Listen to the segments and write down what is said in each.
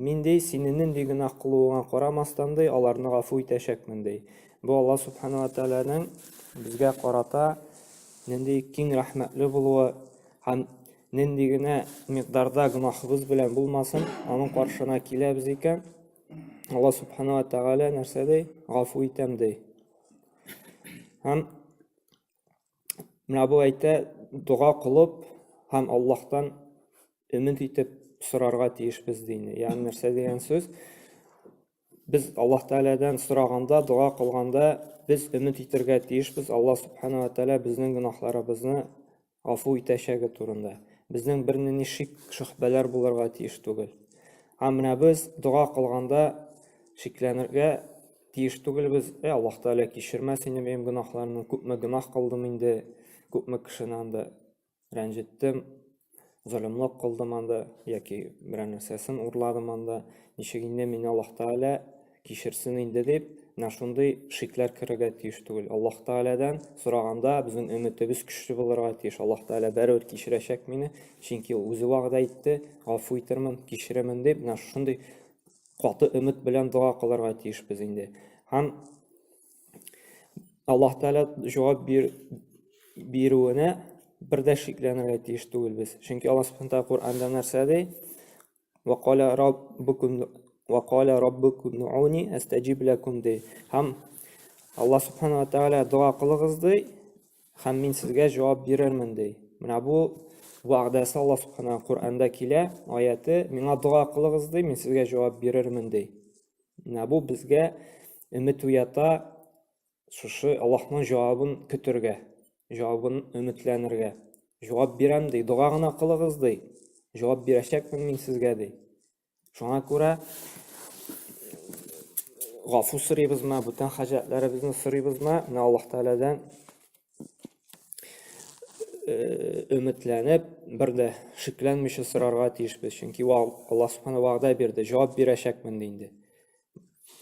Мин, ди, сине нинди гөнаһ кылуыңа карамастан, ди, аларны гафу итәчәкмен, ди. Бу Аллаһ Сүбхәнәһү вә Тәгаләнең безгә карата нинди киң рәхмәтле булуы һәм нинди генә микъдарда гөнаһыбыз белән булмасын, аның каршына киләбез икән, Аллаһ Сүбхәнәһү вә Тәгалә нәрсә ди? Гафу итәм, ди. Һәм Менә бу әйтә, дога кылып һәм Аллаһтан өмет итеп сорарга тиешбез дини. Ягъни нәрсә дигән сүз? Без Аллаһ Тәгаләдән сораганда, дога кылганда без өмет итәргә тиешбез. Алла Субхана ва Тәгалә безнең гөнаһларыбызны гафу итәчәге турында. Безнең бернинди шик, шөхбәләр булырга тиеш түгел. Һәм менә без дога кылганда шикләнергә тиеш түгелбез. Әй, Аллаһ Тәгалә кичермәс инде минем гөнаһларымны, күпме гөнаһ кылдым инде, күпме кешене анда рәнҗеттем, золымлык кылдым анда, яки берәр нәрсәсен урладым анда, ничек инде мине Аллаһ Тәгалә кичерсен инде дип, менә шундый шикләр керергә тиеш түгел. Аллаһ Тәгаләдән сораганда, безнең өметебез көчле булырга тиеш. Аллаһ Тәгалә бәрәбер кичерәчәк мине, чөнки ул үзе вәгъдә итте, гафу итермен, кичеремен дип, менә шундый каты өмет белән дога кылырга тиешбез инде. Һәм Аллаһ Тәгалә җавап бир, бирүенә бер дә шикләнергә тиеш түгелбез. Чөнки Аллаһ Субхану Тәгалә Коръәндә нәрсә ди? Ва кала раббукум ва кала раббукум нууни астаҗиб лакум ди. Һәм Аллаһ Субхану Тәгалә дога кылыгыз ди, Һәм мин сезгә җавап бирермен, ди. Менә бу вәгъдәсе Аллаһ Субхана Коръәндә килә, аяте, миңа дога кылыгыз, ди, мин сезгә җавап бирермен, ди. Менә бу безгә өмет уята шушы Аллаһның җавабын көтергә, җавабын өметләнергә. Җавап бирәм, ди, дога гына кылыгыз, ди. Җавап бирәчәкмен мин сезгә, ди. Шуңа күрә гафу сорыйбызмы, бүтән хаҗәтләребезне сорыйбызмы, менә Аллаһ Тәгаләдән өметләнеп, бер дә шикләнмичә сорарга тиешбез, чөнки Аллаһ Субхану вәгъдә бирде, җавап бирәчәкмен инде.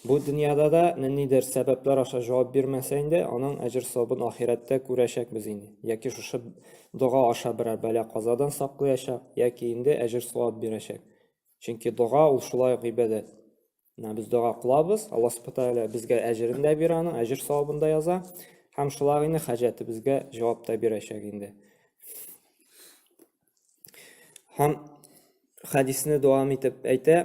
Бу дөньяда да ниндидер сәбәпләр аша җавап бирмәсә инде, аның әҗер савабын ахирәттә күрәчәкбез инде. Яки шушы дога аша берәр бәла казадан саклыячак, яки инде әҗер савап бирәчәк. Чөнки дога ул шулай ук гыйбадәт. Менә без дога кылабыз, Алла Субхану тәгалә безгә әҗерен дә бирә аның, әҗер савабын да яза һәм шулай ук инде хаҗәтебезгә җавап та бирәчәк инде. Һәм хәдисне дәвам итеп әйтә,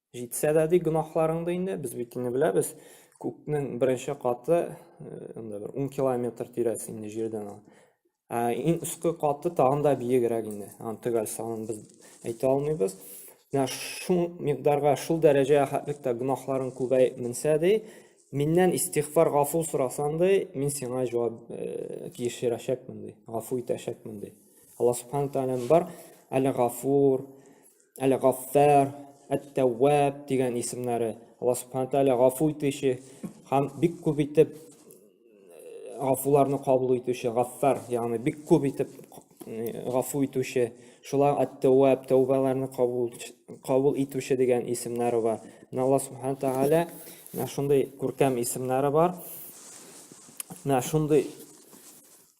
Җитсә дә ди гөнаһларыңды инде, без бит инде беләбез, күкнең беренче каты инде бер 10 километр тирәсе инде җирдән ул. Ә иң өске каты тагын да биегрәк инде. Аны төгәл санын без әйтә алмыйбыз. Менә шул микъдарга, шул дәрәҗә хәтлектә гөнаһларың күбәй менсә ди, миннән истигъфар, гафу сорасаң ди, мин сиңа җавап кишерәчәкмен ди, гафу итәчәкмен ди. Алла субхана тәгаләнең бар, әле гафур, Әл-Гаффар, Әт-Тәвваб дигән исемнәре. Алла Субхану Тәгалә гафу итүче һәм бик күп итеп э, гафуларны кабул итүче, Гаффар, ягъни бик күп итеп э, гафу итүче, шулай Әт-Тәвваб, тәүбаларны кабул кабул итүче дигән исемнәре бар. Менә Алла Субхану Тәгалә менә шундый күркәм исемнәре бар. Менә шундый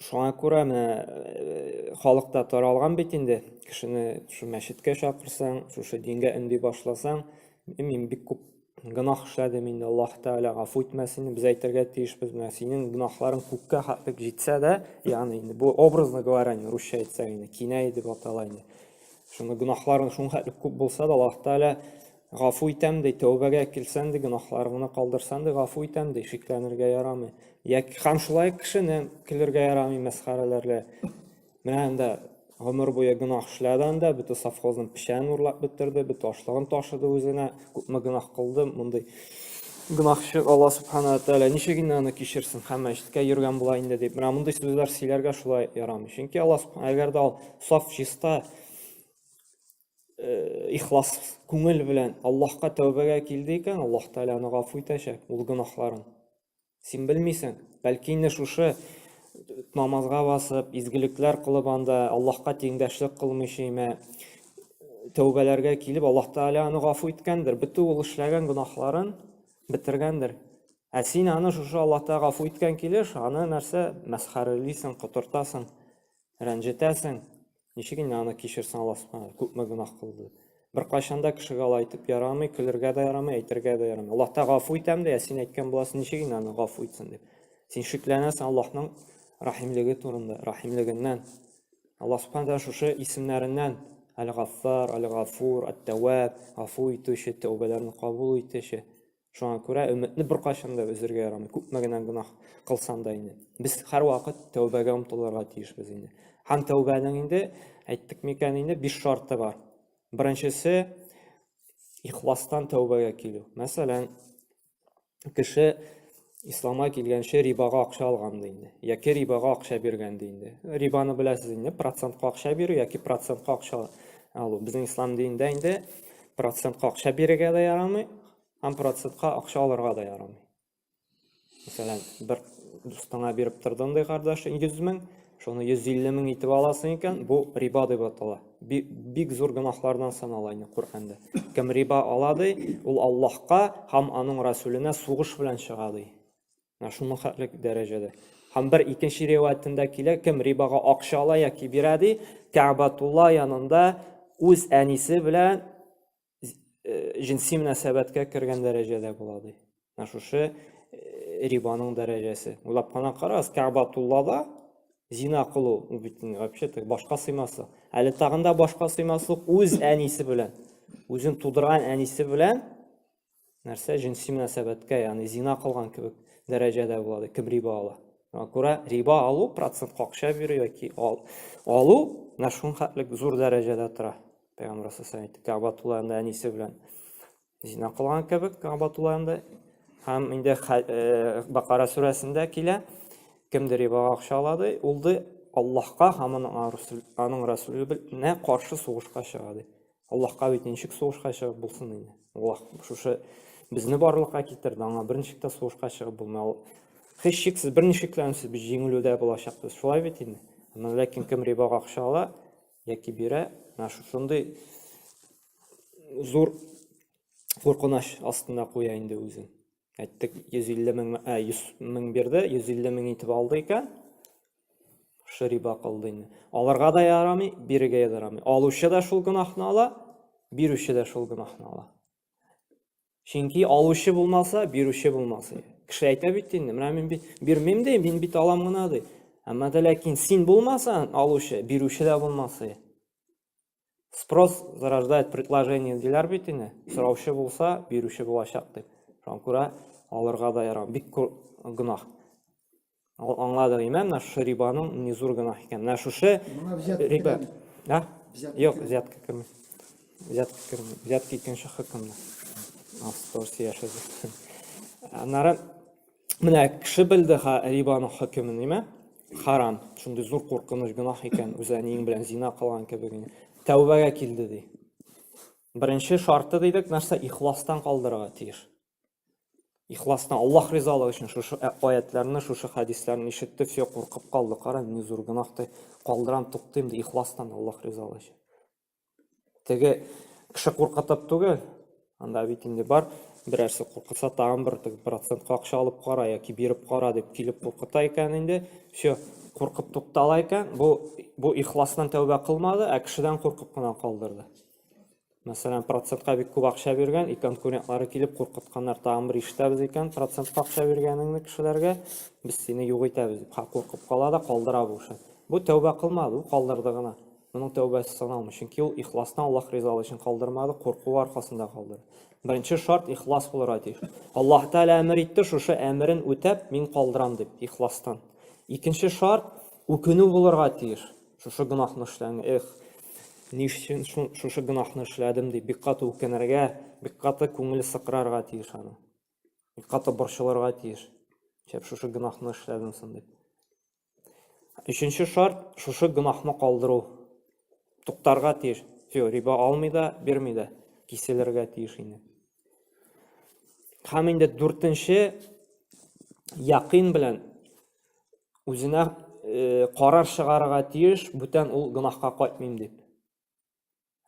Шуңа күрә менә э, халык та таралган бит инде. Кешене шу мәчеткә чакырсаң, шушы дингә өнди башласаң, мин бик күп гөнаһ эшләдем инде, Аллаһ Тәгалә гафу итмәсен, без әйтергә тиешбез, менә синең гөнаһларың күккә хәтлек җитсә дә, ягъни инде бу образно говоря, инде русча әйтсәк инде кинәй дип атала инде. Шуны гөнаһларың шуңа хәтлек күп булса да, Аллаһ Тәгалә Гафу итәм, ди, тәүбәгә килсән, ди, гөнаһларыңны калдырсаң, ди, гафу итәм, ди, шикләнергә ярамый. Йә, һәм шулай ук кешене көлергә ярамый, мәсхәрәләргә. Менә анда гомер буе гөнаһ эшләде анда, бөтен совхозның печәнен урлап бетерде, бөтен ашлыгын ташыды үзенә, күпме гөнаһ кылды, мондый гөнаһчы Алла Субхана Тәгалә ничек инде аны кичерсен, һәм мәчеткә йөргән була инде дип, менә мондый сүзләр сөйләргә шулай ярамый. Чөнки Алла Субхана, әгәр дә ул саф чиста, э, ихлас күңел белән Аллаһка тәүбәгә килде икән, Аллаһ Тәгалә аны гафу итәчәк ул гөнаһларын. Син белмисең, бәлки инде шушы намазга басып, изгелекләр кылып анда Аллаһка тиңдәшлек кылмыйча имә тәүбәләргә килеп, Аллаһ Тәгалә аны гафу иткәндер, бөтен ул эшләгән гөнаһларын бетергәндер. Ә син аны шушы Аллаһ Тәгалә гафу иткән килеш, аны нәрсә мәсхәрәлисең, котыртасың, рәнҗетәсең. Ничек инде аны кичерсен Аллаһ күпме гөнаһ кылды. Беркайчан да кешегә алай әйтеп ярамый, көлергә дә ярамый, әйтергә дә ярамый. Аллаһ та гафу итәм дә, син әйткән буласың, ничек инде аны гафу итсен дип. Син шикләнәсең Аллаһның рәхимлеге турында, рәхимлегеннән. Аллаһ Субхану шушы исемнәреннән Әл-Гаффар, Әл-Гафур, Әт-Тәвәб, гафу итүче, тәүбәләрне кабул итүче. Шуңа күрә өметне беркайчан да өзергә ярамый. Күпме генә гөнаһ кылсаң да инде. Без һәрвакыт тәүбәгә омтылырга тиешбез инде. Һәм тәүбәнең инде әйттек микән инде биш шарты бар. Беренчесе ихластан тәүбәгә килү. Мәсәлән, кеше исламга килгәнче рибага акча алган ди инде. Яки рибага акча биргән ди инде. Рибаны беләсез инде, процентка акча бирү яки процентка акча алу. Безнең ислам динендә инде процентка акча бирергә дә ярамый, Һәм процентка акча алырга да ярамый. Мәсәлән, бер дустыңа биреп тордың ди кардәш 100 мең, шуны 150 мең итеп аласың икән, бу риба дип атала. Бик зур гөнаһлардан санала инде Коръәндә. Кем риба ала ди, ул Аллаһка һәм аның Расүленә сугыш белән чыга ди. Менә шуның хәтле дәрәҗәдә. Һәм бер икенче риваятендә килә, кем рибага акча ала яки бирә ди, Кәбатулла янында үз әнисе белән җенси мөнәсәбәткә кергән дәрәҗәдә була ди. Менә шушы рибаның дәрәҗәсе. Уйлап кына карагыз, Кәгъбатуллада зина кылу бит вообще башка сыймаслык. Әле тагында башка сыймаслык үз әнисе белән, үзен тудырган әнисе белән нәрсә җенси мөнәсәбәткә, ягъни зина кылган кебек дәрәҗәдә була, кем риба ала. Шуңа күрә риба алу, процент акча бирү яки ал, алу менә шуның хәтлек зур дәрәҗәдә тора. Пәйгамбәр сәлләһу әйтте, Кәбатулланда әнисе белән зина кылган кебек Кәбатулланда һәм инде э, Бакара сүрәсендә килә, кемдер рибага акча алады, ул ди Аллаһка һәм аның Расулына каршы сугышка чыга ди. Аллаһка бит ничек сугышка чыгып булсын инде. Аллаһ шушы безне барлыкка китерде, аңа берничек тә сугышка чыгып булмый. Ул һичшиксез берничек тә үсеп без җиңелүдә булачакбыз. Шулай бит инде. Аны ләкин кем рибага акча ала яки бирә, менә шушындый зур куркыныч астында куя инде үзен. Әйттек, 150 мең, ә, 100 мең бирде, 150 мең итеп алды икән. Шушы риба кылды инде. Алырга да ярамый, бирергә дә ярамый. Алучы да шул гөнаһны ала, бирүче дә шул гөнаһны ала. Чөнки алучы булмаса, бирүче булмаса. Кеше әйтә бит инде, менә мин бит бирмим ди, мин бит алам гына ди. Әмма дә ләкин син булмасаң, алучы, бирүче дә булмаса. спрос зарождает предложение диләр бит инде сораучы булса бирүче булачак дип шуңа күрә алырга да ярамый бик гөнаһ аңладык име менә шушы рибаның не зур гөнаһ икән менә шушы риба а юк взятка кем взятка кем взятка икенче хөкемдә автобус яшәде аннары Менә кеше белде ха рибаның хөкемен, ниме? Харам. Шундый зур куркыныч гөнаһ икән, үзе әниең белән зина кылган кебек. Тәүбәгә килде ди. Беренче шарты дидек, нәрсә ихластан калдырырга тиеш. Ихластан Аллаһ ризалыгы өчен шушы ә, аятларны, шушы хәдисләрне ишетте, все куркып калды. Кара, ни зур гөнаһты калдырам, туктыйм ди, ихластан Аллаһ ризалыгы өчен. Теге кеше куркытып түгел, анда бит инде бар, берәрсе куркытса, тагын бер теге процентка акча алып кара яки биреп кара дип килеп куркыта икән инде. Все, куркып туктала икән. Бу бу ихластан тәүбә кылмады, ә кешедән куркып кына калдырды. Мәсәлән, процентка бик күп акча биргән, и конкурентлары килеп куркытканнар, тагын бер ишетәбез икән, процентка акча биргәнеңне кешеләргә, без сине юк итәбез дип, ха куркып кала да калдыра бу эшен. Бу тәүбә кылмады, бу калдырды гына. Моның тәүбәсе саналмый, чөнки ул ихласны Аллаһ ризалыгы өчен калдырмады, куркуы аркасында калдырды. Беренче шарт ихлас булырга тиеш. Аллаһ Тәгалә әмер итте, шушы әмерен үтәп, мин калдырам дип, ихластан. Икенче шарт үкенү булырга тиеш. Шушы гөнаһны эшләгән, эх, ни өчен шушы гөнаһны эшләдем дип, бик каты үкенергә, бик каты күңеле сыкрарга тиеш аны. Бик каты борчылырга тиеш. Шәп шушы гөнаһны эшләдем соң дип. Өченче шарт, шушы гөнаһны калдыру. Туктарга тиеш. Все, риба алмый да, бирми дә. Киселергә тиеш инде. Һәм инде дүртенче якын белән үзенә э, карар чыгарырга тиеш, бүтән ул гөнаһка кайтмыйм дип.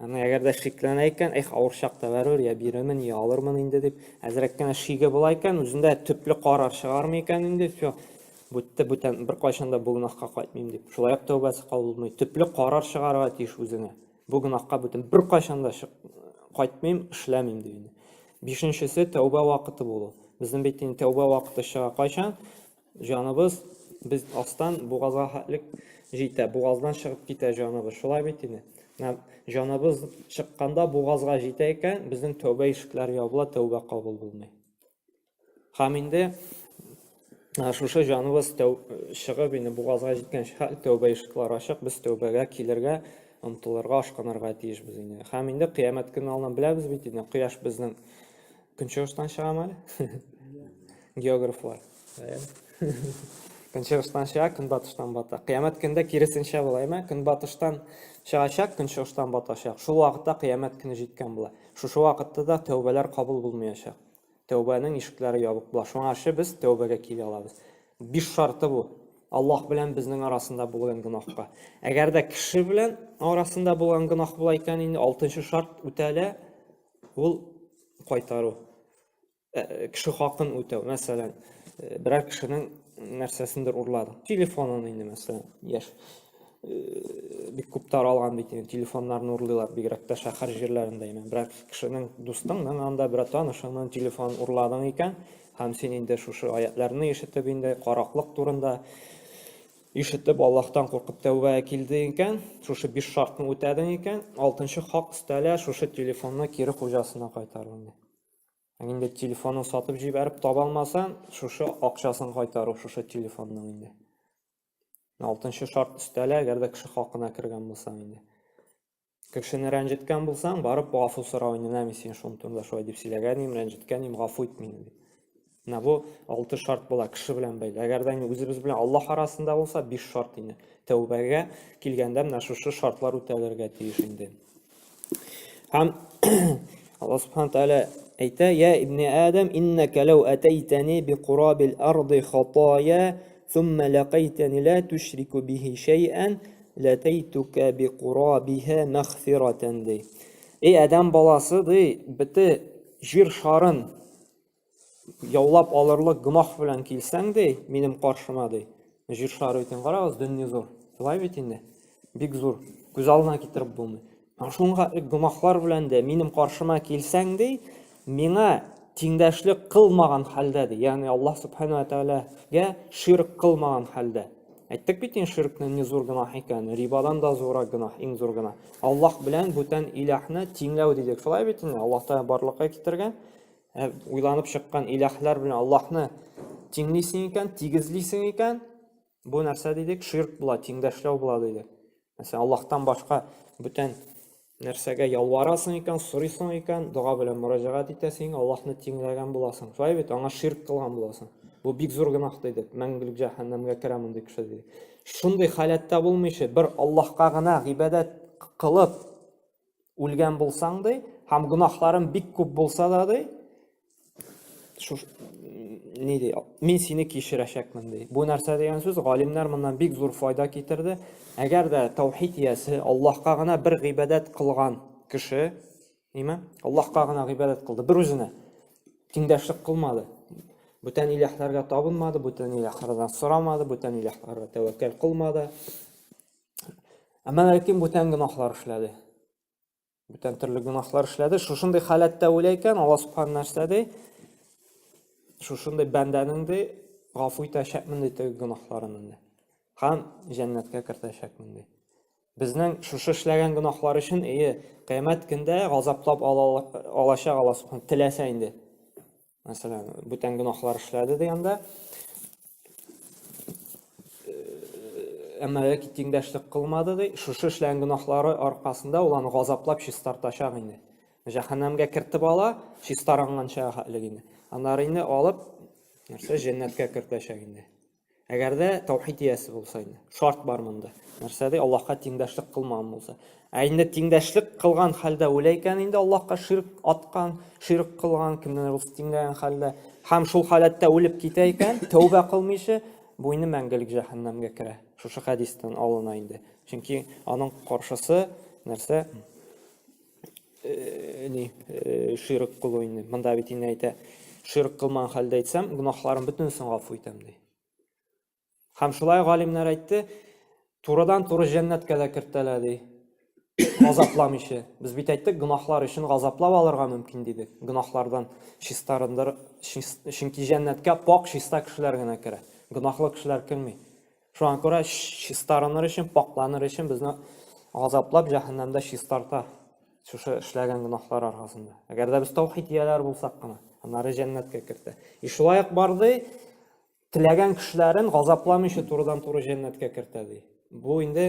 Аны әгәр дә шикләнә икән, эх, авыр чакта бәрер, я бирәмен, я алырмын инде дип, әзрәк кенә шиге була икән, үзендә төпле карар чыгармый икән инде, все, бүтте, бүтән, бер кайчан да бу гөнаһка кайтмыйм дип. Шулай ук тәүбәсе кабул булмый. Төпле карар чыгарырга тиеш үзеңә. Бу гөнаһка бүтән бер кайчан да кайтмыйм, эшләмим дип инде. Бишенчесе тәүбә вакыты булу. Безнең бит инде тәүбә вакыты чыга кайчан? Җаныбыз, без астан бугазга хәтлек җитә, бугаздан чыгып китә җаныбыз. Шулай бит инде. Менә җаныбыз чыкканда бугазга җитә икән, безнең тәүбә ишекләре ябыла, тәүбә кабул булмый. Һәм инде шушы җаныбыз чыгып инде бугазга җиткәнче хәл тәүбә ишекләре ачык, без тәүбәгә килергә, омтылырга, ашкынырга тиешбез инде. Һәм инде кыямәт көне алдан беләбез бит инде, кояш безнең Көнчыгыштан чыгам әле. Географлар. Көнчыгыштан чыга, көнбатыштан бата. Кыямәт көндә киресенчә була, әйме? Көнбатыштан чыгачак, көнчыгыштан батачак. Шул вакытта кыямәт көне җиткән була. Шушы вакытта да тәүбәләр кабул булмаячак. Тәүбәнең ишекләре ябык була. Шуңа ше без тәүбәгә килә алабыз. Биш шарты бу. Аллаһ белән безнең арасында булган гөнаһка. Әгәр дә кеше белән арасында булган гөнаһ була икән, инде алтынчы шарт үтәлә, Ул кайтару. Э, кеше хакын үтәү мәсәлән э, берәр кешенең нәрсәсендер урлады телефонын инде мәсәлән яшь э, бик күп таралган бит инде телефоннарны урлыйлар бигрәк тә шәһәр җирләрендә имән берәр кешенең дустыңның анда берәр танышыңның телефонын урладың икән һәм син инде шушы аятларны ишетеп инде караклык турында Ишетеп, Аллаһтан куркып тәүбә килдең икән, шушы биш шартны үтәдең икән, алтынчы хак өстәлә, шушы телефонны кире хуҗасына кайтару инде. Ә инде телефонын сатып җибәреп таба алмаса, шушы акчасын кайтару шушы телефонның инде. Алтынчы шарт өстәлә, әгәр дә кеше хакына кергән булсаң инде. Кешене рәнҗеткән булсаң, барып гафу сорау, менә мин сине шул турында шулай дип сөйләгән идем, рәнҗеткән идем, гафу ит мине дип. Менә бу алты шарт була кеше белән бәйле. Әгәр дә үзебез белән Аллаһ арасында булса, биш шарт инде. Тәүбәгә килгәндә менә шушы шартлар үтәлергә тиеш инде. Һәм Аллаһ Субхану тәгалә әйтә: "Я ибне Адам, иннака лау атайтани би курабил арди хатая, сумма лакайтани ла тушрику бихи шайан, Ләтәйтүкә би курабиһә мәгъфирәтән ди. Эй адәм баласы ди, бите җир шарын яулап алырлык гөнаһ белән килсәң ди, минем каршыма ди. Җир шары икән, карагыз, дөнья зур. Шулай бит инде. Бик зур. Күз алдына китереп булмый. Шуңа ук гөнаһлар белән дә минем каршыма килсәң, ди, миңа тиңдәшлек кылмаган хәлдә, ди, ягъни Аллаһ Субхана ва Тәгаләгә ширк кылмаган хәлдә. Әйттек бит инде ширкнең ни зур гөнаһ икәнен, рибадан да зуррак гөнаһ, иң зур гөнаһ. Аллаһ белән бүтән илаһны тиңләү дидек. Шулай бит инде, Аллаһ Тәгалә барлыкка китергән, ә уйланып чыккан илаһлар белән Аллаһны тиңлисең икән, тигезлисең икән, Бу нәрсә дидек? Ширк була, тиңдәшләү була дидек. Мәсәлән, Аллаһтан башка бүтән нәрсәгә ялварасың икән, сорыйсың икән, дога белән мөрәҗәгать итәсең, Аллаһны тиңләгән буласың. Шулай бит, аңа ширк кылган буласың. Бу бик зур гөнаһ дидек. Мәңгелек җәһәннәмгә керә мондый кеше дидек. Шундый халәттә булмыйча, бер Аллаһка гына гыйбадәт кылып, үлгән булсаң, ди, һәм гөнаһларым бик күп булса да, ди, шуш ни ди, мин сине кешерәчәкмен, ди. Бу нәрсә дигән сүз, галимнәр моннан бик зур файда китерде. Әгәр дә таухид иясе Аллаһка гына бер гыйбадәт кылган кеше, ниме? Аллаһка гына гыйбадәт кылды, бер үзенә тиңдәшлек кылмады. Бүтән иләһләргә табынмады, бүтән иләһләрдән сорамады, бүтән иләһләргә тәвәккәл кылмады. Ә мәләким бүтән гөнаһлар эшләде. Бүтән төрле гөнаһлар эшләде. Шушындый халәттә үлә икән, Алла субхан нәрсә ди? Шушындый бәндәнең ди гафу итәчәкмен ди теге гөнаһларын инде. Һәм җәннәткә кертәчәкмен ди. Безнең шушы эшләгән гөнаһлар өчен ие, кыямәт көндә газаплап алачак Алла субхан теләсә инде. Мәсәлән, бүтән гөнаһлар эшләде дигәндә, әмма яки тиңдәшлек кылмады ди, шушы эшләгән гөнаһлары аркасында ул аны газаплап чистартачак инде. Җәһәннәмгә кертеп ала, чистаранганча хәтлек инде. Аннары инде алып, нәрсә, җәннәткә кертәчәк инде. Әгәр дә таухид иясе булса инде. Шарт бар монда. Нәрсә ди? Аллаһка тиңдәшлек кылмаган булса. Ә инде тиңдәшлек кылган хәлдә үлә икән инде Аллаһка ширк аткан, ширк кылган, кемнән рус тиңләгән хәлдә һәм шул халәттә үлеп китә икән, тәүбә кылмыйча, бу инде мәңгелек җәһәннәмгә керә. Шушы хәдистән алына инде. Чөнки аның каршысы нәрсә? э, ни э, ширк кылу инде монда бит инде әйтә ширк кылмаган хәлдә әйтсәм гөнаһларым бөтенесен гафу итәм ди һәм шулай галимнәр әйтте турыдан туры җәннәткә дә кертәләр ди газапламыйча без бит әйттек гөнаһлар өчен газаплап алырга мөмкин дидек гөнаһлардан чистарындыр чөнки җәннәткә пак чиста кешеләр генә керә гөнаһлы кешеләр керми Шуңа күрә чистарыныр өчен, пакьланыр өчен безне газаплап җәһәннәмдә чистарта шушы эшләгән гөнаһлар аркасында. Әгәр дә без таухид ияләре булсак кына, аннары җәннәткә кертә. И шулай ук бар ди, теләгән кешеләрен газапламыйча турыдан-туры җәннәткә кертә ди. Бу инде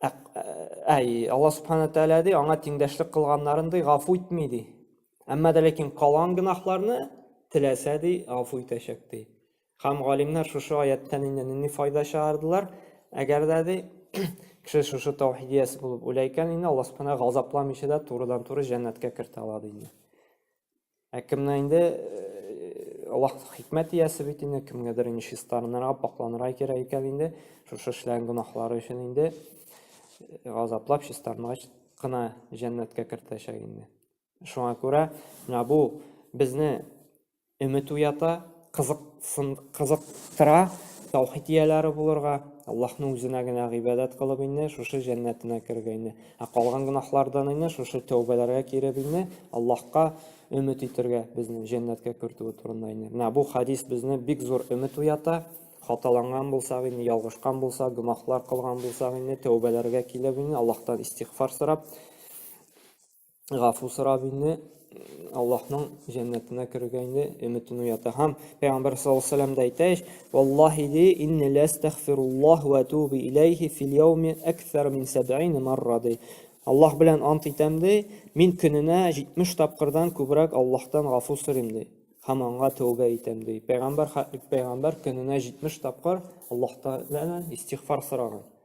Ә, ә, ә, Алла Субхана Тәлә ди, аңа тиңдәшлек кылганнарын ди, гафу итми ди. Әмма дә ләкин калган гынахларны теләсә ди, гафу итәчәк ди. Хам галимнәр шушы аяттан инде нинди файда чыгардылар? Әгәр дә ди, кеше шушы таухидияс булып үлә икән, инде Алла Субхана газапламыйча да турыдан-туры җәннәткә кертә ала ди. Ә кемнән инде Аллаһ хикмәт иясе бит инде, кемгәдер инде чистарынырга, пакланырга кирәк икән инде, шушы эшләгән гөнаһлары өчен инде э, газаплап чистарынгач кына җәннәткә кертәчәк инде. Шуңа күрә менә бу безне өмет уята, кызыктыра, таухид ияләре булырга, Аллаһның үзенә генә гыйбадәт кылып инде шушы җәннәтенә керергә инде. Ә калган гөнаһлардан инде шушы тәүбәләргә киреп инде Аллаһка өмет итергә безне җәннәткә кертүе турында инде. Менә бу хадис безне бик зур өмет уята. Хаталанган булсак инде, ялгышкан булса, гөнаһлар кылган булсак инде, тәүбәләргә килеп инде Аллаһтан истигъфар сорап, гафу сорап инде Аллаһның җәннәтенә керергә инде өметен уята. Һәм Пәйгамбәр саллаллаһу алейһи вәсәлләм дә әйтә ич, "Валлаһи ди, инни ластагфируллаһ ва туби илейхи фил яуми аксар мин 70 марра" ди. Аллаһ белән ант итәм ди, мин көненә 70 тапкырдан күбрәк Аллаһтан гафу сорыйм ди. Һәм аңа тәүбә итәм ди. Пәйгамбәр пәйгамбәр көненә 70 тапкыр Аллаһтан истигъфар сораган.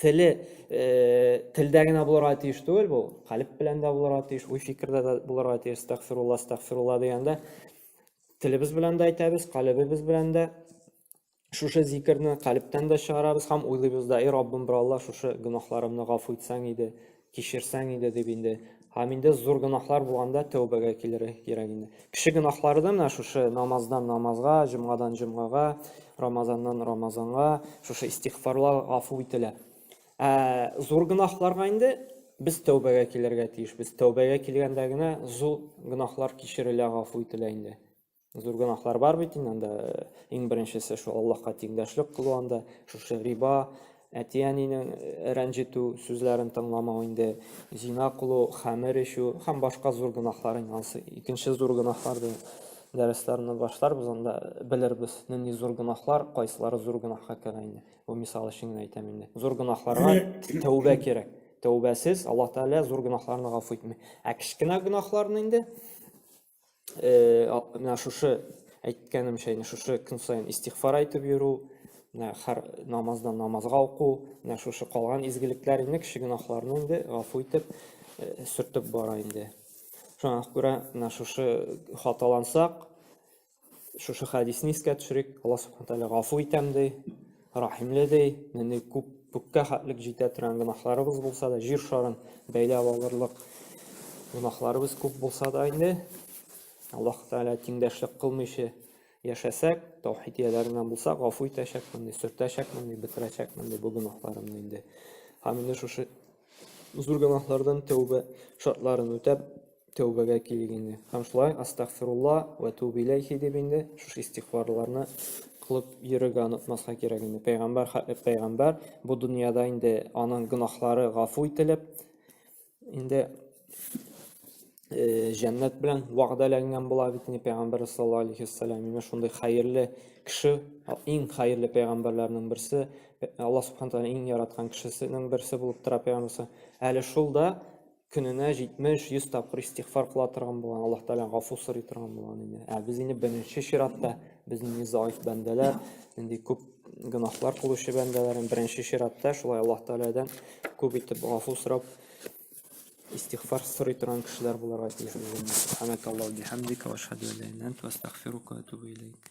теле э, телдә генә булырга тиеш түгел бу калеб белән дә булырга тиеш уй фикердә дә булырга тиеш стәгфирулла стәгфирулла дигәндә телебез белән дә әйтәбез калебебез белән дә шушы зикерне калебтән дә чыгарабыз һәм уйлыйбыз да эй раббым бер алла шушы гөнаһларымны гафу итсәң иде кичерсәң иде дип инде һәм инде зур гөнаһлар булганда тәүбәгә килергә кирәк инде кеше гөнаһлары да менә шушы намаздан намазга җомгадан җомгага рамазаннан рамазанга шушы истигъфарлар гафу ителә ә зур гөнаһларга инде без тәүбәгә килергә тиешбез тәүбәгә килгәндә генә зур гөнаһлар кичерелә гафу ителә инде зур гөнаһлар бар бит инде анда э, иң беренчесе шул аллаһка тиңдәшлек кылу анда шушы риба әти әнинең э, рәнҗетү сүзләрен тыңламау инде зина кылу хәмер эчү һәм башка зур гөнаһлар инде анысы икенче зур гөнаһлар дип дәресләрне башларбыз анда э, белербез нинди зур гөнаһлар кайсылары зур гөнаһка керә инде бу мисал өчен генә әйтәм инде зур гөнаһларга тәүбә кирәк тәүбәсез аллаһ тәгалә зур гөнаһларны гафу итми ә кечкенә гөнаһларны инде менә шушы әйткәнемчә инде шушы көн саен истигъфар әйтеп йөрү менә һәр намаздан намазга уку менә шушы калган изгелекләр инде кеше гөнаһларны инде гафу итеп сөртеп бара инде шуңа күрә менә шушы хаталансак шушы хәдисне искә төшерик алла субхан тәгалә гафу итәм ди Рәхимле ди, нинди күп күккә хәтлек җитә торган гөнаһларыбыз булса да, җир шарын бәйләп алырлык гөнаһларыбыз күп булса да инде, Аллаһ Тәгалә тиңдәшлек кылмыйча яшәсәк, таухид ияләреннән булсак, гафу итәчәкмен, ди, сөртәчәкмен, ди, бетерәчәкмен, ди, бу гөнаһларымны инде. Һәм инде шушы зур гөнаһлардан тәүбә шартларын үтәп, тәүбәгә килик инде. Һәм шулай астагфирулла вә туб иләйхи дип инде шушы истигъфарларны кылып йөрергә онытмаска кирәк инде. Пәйгамбәр хәтле пәйгамбәр бу дөньяда инде аның гөнаһлары гафу ителеп, инде э, җәннәт белән вәгъдәләнгән була бит инде пәйгамбәр саллаллаһу алейхи вассалам. Менә шундый хәерле кеше, иң хәерле пәйгамбәрләрнең берсе, Аллаһ субханә тәгалә иң яраткан кешесенең берсе булып тора пәйгамбәр. Әле шул да көненә 70-100 тапкыр истигъфар кыла торган булган, Аллаһ Тәгалә гафу сорый торган булган инде. Ә без инде беренче чиратта без инде заиф бәндәләр, инде күп гөнаһлар кылучы бәндәләр, беренче чиратта шулай Аллаһ Тәгаләдән күп итеп гафу сорап истигъфар сорый торган кешеләр буларга тиеш үзебез. Субханака Аллаһу бихамдика ва ашһаду ла илаха илля анта ва астагъфирука ва атубу илейк.